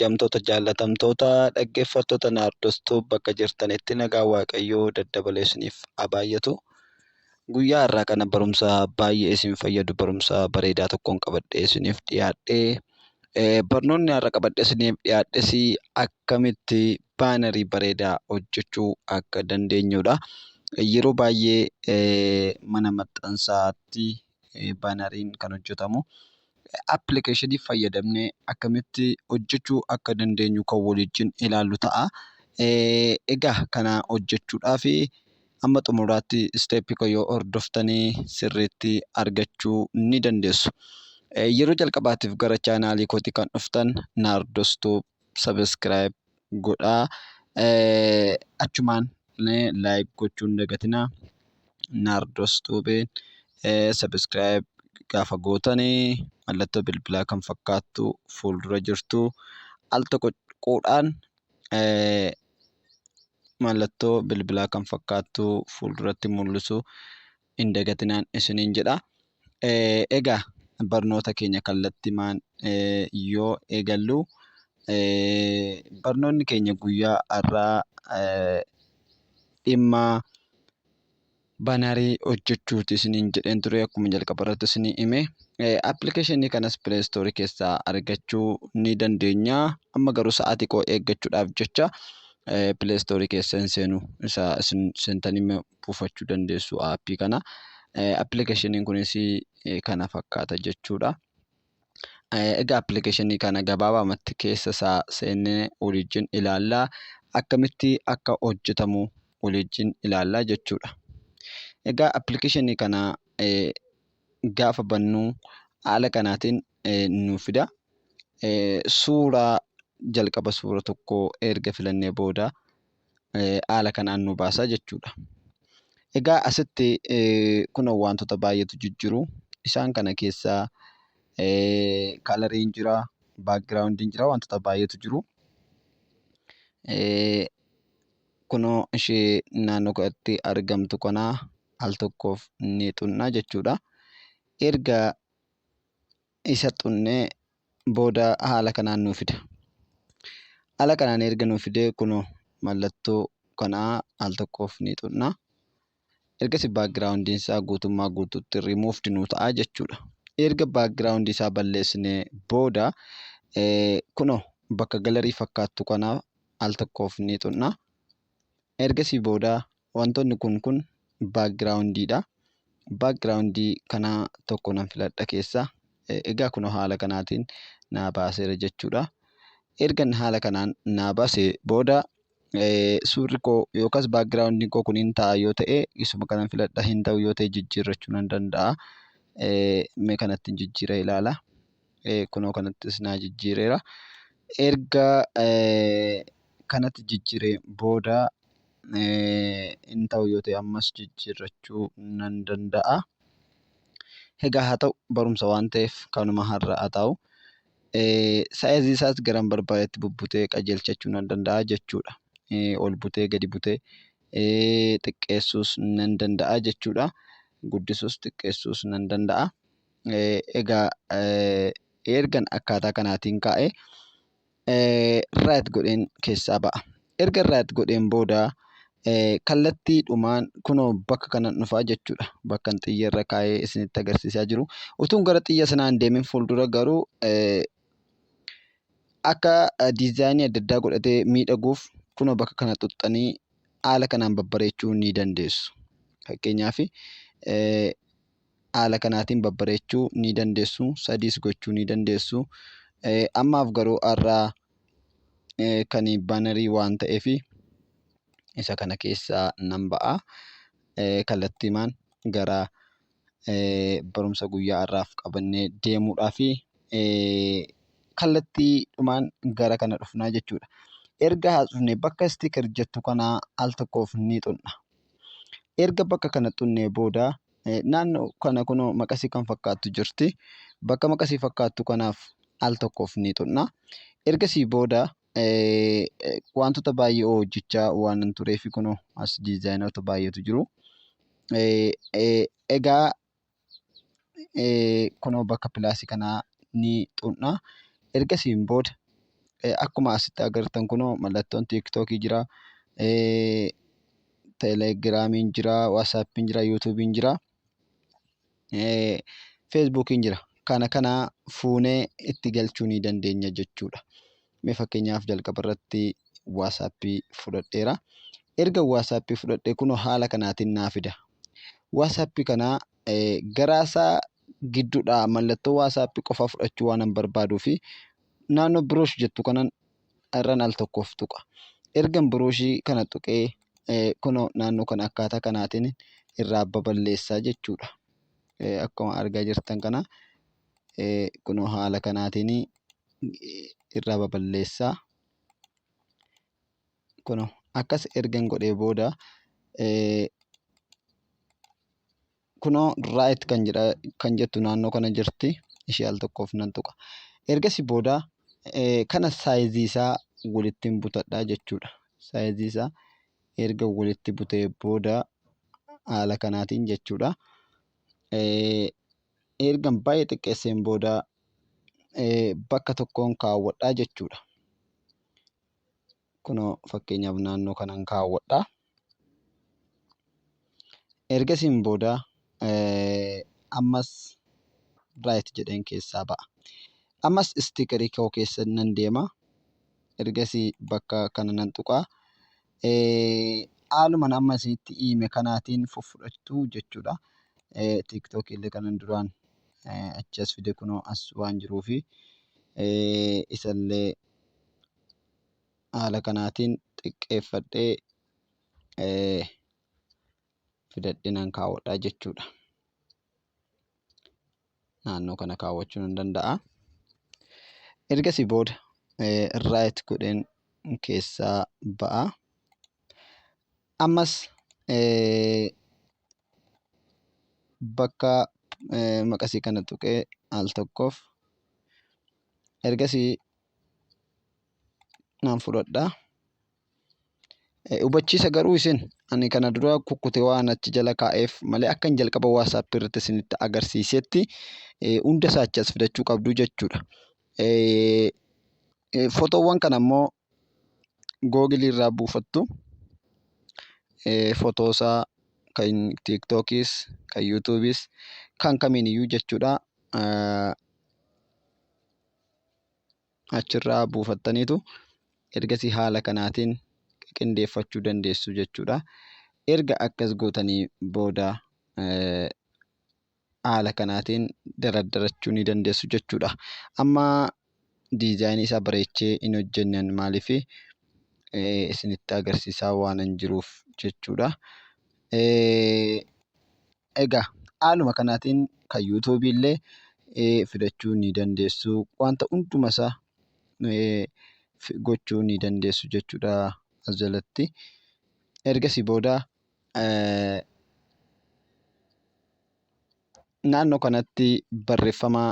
Jamtoota jaallatamtoota dhaggeeffattoota Naardoos Tuub bakka jirtanitti nagaa Waaqayyoo daddabalee isiniif haa baay'atu. Guyyaa har'aa kana barumsa baay'ee isin fayyadu barumsa bareedaa tokkoon qabadhee isiniif dhiyaadhe. Barnoonni har'a qabadhee isiniif dhiyaadhes akkamitti baanarii bareedaa hojjechuu akka dandeenyudha. Yeroo baay'ee mana maxxansaatti baanariin kan hojjetamu appilikeeshinii fayyadamnee akkamitti hojjechuu akka dandeenyu kan waliin ilaallu ta'a. Egaa kana hojjechuudhaaf hamma xumuraatti isteeppii koo yoo hordoftan sirriitti argachuu ni dandeessu. Yeroo jalqabaatiif gara chaanaalii kootii kan dhuftan Naardoos Tuub sabiskiraayib godhaa achumaan like gochuu hin dagatinaa naardos tube subscribe gaafa gootani mallattoo bilbilaa kan fakkaattu fuuldura jirtu al tokko quudhaan mallattoo bilbilaa kan fakkaattu fuulduratti mul'isu hin dagatinaan isiniin jedha. Egaa barnoota keenya kallattimaan yoo eegallu barnoonni keenya guyyaa har'aa dhimma banarii hojjechuuti isiniin jedheen ture akkuma jalqaba irratti isinii hime. Appilikeeshinii kanas pileestoorii keessaa argachuu ni dandeenya. Amma garuu sa'aatii koo eeggachuudhaaf jecha pileestoorii keessa hin seenu isa isin seentanii buufachuu dandeessu aappii kana. Appilikeeshiniin kunis kana fakkaata jechuudha. Egaa appilikeeshinii kana gabaabamatti keessa isaa seennee waliin ilaalla. Akkamitti akka hojjetamu waliin ilaalla jechuudha. Egaa appilikeeshinii kana gaafa bannu haala kanaatiin nu fida. Suuraa jalqaba suura tokko erga filannee booda haala kanaan nu baasa jechuudha. Egaa asitti kun wantoota baay'eetu jijjiru. Isaan kana keessaa kalariin jira, baakgiraawundiin jira wantoota baay'eetu jiru. Kunoo ishee naannoo kanatti argamtu kana al tokkoof ni xunna jechuudha. Erga isa xunnee booda haala kanaan nuu fida. Haala kanaan erga nuu fidee kunoo mallattoo kanaa al tokkoof ni xunna. Ergasi backgroundiin isaa guutummaa guutuutti removed nuu ta'a jechuudha. Erga background isaa balleessinee booda eh, kunoo bakka galarii fakkaattu kanaa al tokkoof ni xunna. Ergasii booda Wantoonni kun kun background dha. Background kana tokko nan filadha keessa. Egaa kunoo haala kanaatiin naa baaseera jechuudha. Ergan haala kanaan naa baase booda suurri koo yookaas background koo kun hin ta'a yoo ta'e isuma kanan filadha hin ta'u yoo ta'e jijjiirrachuu nan danda'a. Mee kanattiin jijjiira ilaala. kunoo kanattis naa jijjiireera erga kanatti jijjiire booda hin ta'u yoo ta'e ammas jijjiirrachuu nan danda'a egaa haa ta'u barumsa waan ta'eef kanuma har'a haa ta'u saayizii isaas garan barbaadetti bubbutee qajeelchachuu nan danda'a jechuudha ol butee gadi butee xiqqeessuus nan danda'a jechuudha guddisuus xiqqeessuus nan danda'a. Egaa ergan akkaataa kanaatiin kaa'e right godheen keessaa ba'a. Erga right godheen booda kallattiidhumaan kunoo bakka kanan dhufaa jechuudha. Bakkan xiyya irra kaa'ee isinitti agarsiisaa jiru. Utuun gara xiyya sanaa hin deemin fuuldura garuu akka diizaayinii adda addaa godhatee miidhaguuf kunoo bakka kana xuxxanii haala kanaan babbareechuu ni dandeessu. Fakkeenyaaf haala kanaatiin babbareechuu ni dandeessu. Sadiis gochuu ni dandeessu. Ammaaf garuu har'a kan baanarii waan ta'eef isa kana keessaa nan ba'a. Kallattiimaan gara barumsa guyyaa har'aaf qabannee deemuudhaaf kallattiidhumaan gara kana dhufnaa jechuudha. Erga haasofnee bakka sticker jettu kanaa al tokkoof ni tuqna. Erga bakka kana xunnee booda naannoo kana kunoo maqasii kan fakkaattu jirti. Bakka maqasii fakkaattu kanaaf al tokkoof ni xunna. Ergasii booda wantoota baay'ee hojjechaa waan tureef kunoo as diizaayinoota baay'eetu jiru. Egaa kunoo bakka pilaasii kanaa ni tuqna. Ergasiin booda akkuma asitti agartan kunoo mallattoon tiiktookii jira. Telegiraamiin jira, waatsaappiin jira, yuutuubiin jira, feesbuukiin jira. Kana kana fuunee itti galchuu ni dandeenya jechuudha. Mee fakkeenyaaf jalqaba irratti WhatsApp fudhadheera. Erga WhatsApp fudhadhe kunoo haala kanaatiin naa fida. WhatsApp kana garaasaa gidduudhaa mallattoo WhatsApp qofa fudhachuu waan hin barbaaduu fi naannoo biroosh jettu kanan irran al tokkoof tuqa. Ergan birooshii kana tuqee kunoo naannoo kana akkaataa kanaatiin irraa baballeessaa jechuudha. Akkuma argaa jirtan kana kunoo haala kanaatiin irraa baballeessaa kunoo akkas ergan godhee booda kunoo right kan jedha kan jettu naannoo kana jirti ishee al tokkoof nan tuqa ergasi booda kana saayizii isaa walittiin butadhaa jechuudha saayizii isaa erga walitti butee booda haala kanaatiin jechuudha. ergan baay'ee xiqqeesseen booda bakka tokkoon kaawwadhaa jechuudha. Kunoo fakkeenyaaf naannoo kanan kaawwadhaa. Ergasiin booda ammas raayit jedheen keessaa ba'a. Ammas istiikarii koo keessa nan deema. Ergasii bakka kana nan tuqaa. haaluman amma isinitti hiime kanaatiin fuffudhattu jechuudha. TikTok illee kanan duraan achi as fide kunoo as waan jiruufi isallee haala kanaatiin xiqqeeffadhee fidadhee nan kaawwadha jechuudha. naannoo kana kaawwachuu nan danda'a. Ergasii booda right godheen keessaa ba'a. Ammas bakka maqasii kana tuqee al tokkoof ergasii nan fudhadha. Hubachiisa garuu isin ani kana dura kukkute waan achi jala kaa'eef malee akkan jalqaba WhatsApp irratti isinitti agarsiisetti hunda isaa achi as fidachuu qabdu jechuudha. Fotoowwan kana immoo Google irraa buufattu. Fotoo isaa kan TikTokis, kan YouTubes kan kamiiniyyuu jechuudha. achirraa buufattaniitu ergasii haala kanaatiin qindeeffachuu dandeessu jechuudha. Erga akkas gootanii booda haala kanaatiin dardarachuu ni dandeessu jechuudha. Amma diizaayinii isaa bareechee hin hojjennan maaliif isinitti agarsiisaa waanan jiruuf jechuudha. Egaa haaluma kanaatiin kan yuutuubii illee filachuu ni dandeessu. Wanta hunduma isaa gochuu ni dandeessu jechuudha as jalatti. Ergasii booda naannoo kanatti barreeffama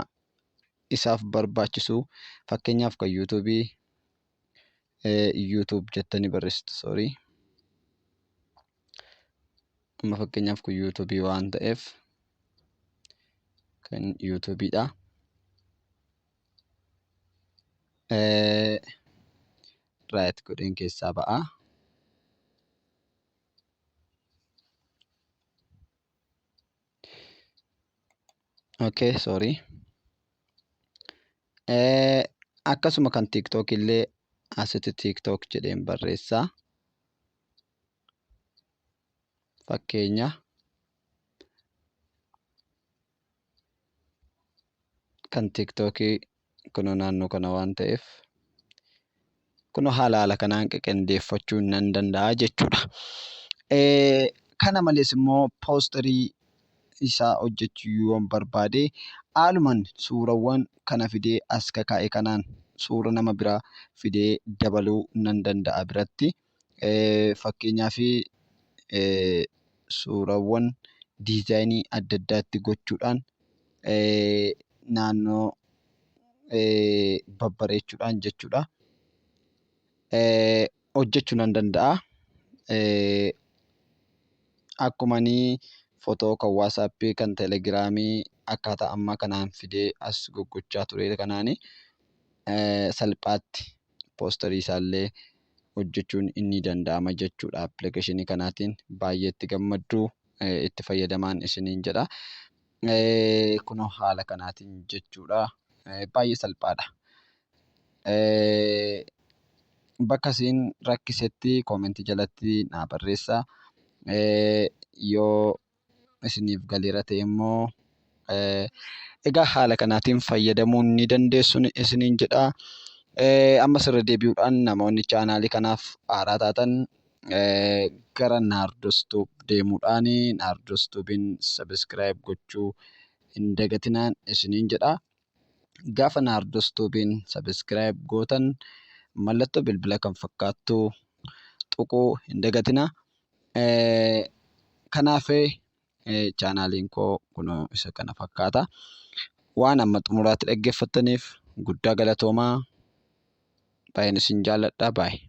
isaaf barbaachisu fakkeenyaaf kan yuutuubii YouTube jettanii barreessitu sorry. Amma fakkeenyaaf kun YouTube waan ta'eef kan YouTube dha. Right godheen keessaa ba'a. Okay sorry. Eh, akkasuma kan TikTok illee asitti TikTok jedheen barreessa. Fakkeenya. Kan TikTok Kunoo naannoo kana waan ta'eef kunoo haala haala kanaan qaqendeeffachuu nan danda'a jechuudha. Kana malees immoo poosterii isaa hojjechuu yoon barbaade haaluman suurawwan kana fidee as kakaa'e kanaan suura nama biraa fidee dabaluu nan danda'a biratti. Fakkeenyaaf suuraawwan diizaayinii adda addaa itti gochuudhaan naannoo babbareechuudhaan jechuudha. Hojjechuu nan danda'a. Akkuma wasappii, telegiraamii akkaataa amma kanaan fidee as goggochaa ture kanaan salphaatti. poosterii isaallee hojjechuun ni danda'ama jechuudha appilikeeshinii kanaatiin baay'ee itti gammaddu itti fayyadamaan isiniin jedha kunoo haala kanaatiin jechuudha baay'ee salphaadha. Bakka isin rakkisetti koomentii jalatti naa barreessa yoo isiniif galeera ta'e immoo egaa haala kanaatiin fayyadamuu ni dandeessu isiniin jedha. Ammas irra deebi'uudhaan namoonni chaanaalii kanaaf haaraa taatan gara Naardos Tuub deemuudhaan Naardos Tuubiin sabiskiraayib gochuu hin dagatinaan isiniin jedha. gaafa naardos tuubiin sabiskiraayib gootan mallattoo bilbila kan fakkaattu tuquu hin dagatina kanaaf chaanaaliin koo kunoo isa kana fakkaata waan amma xumuraatti dhaggeeffattaniif guddaa galatoomaa baay'een isin jaalladha baay'ee.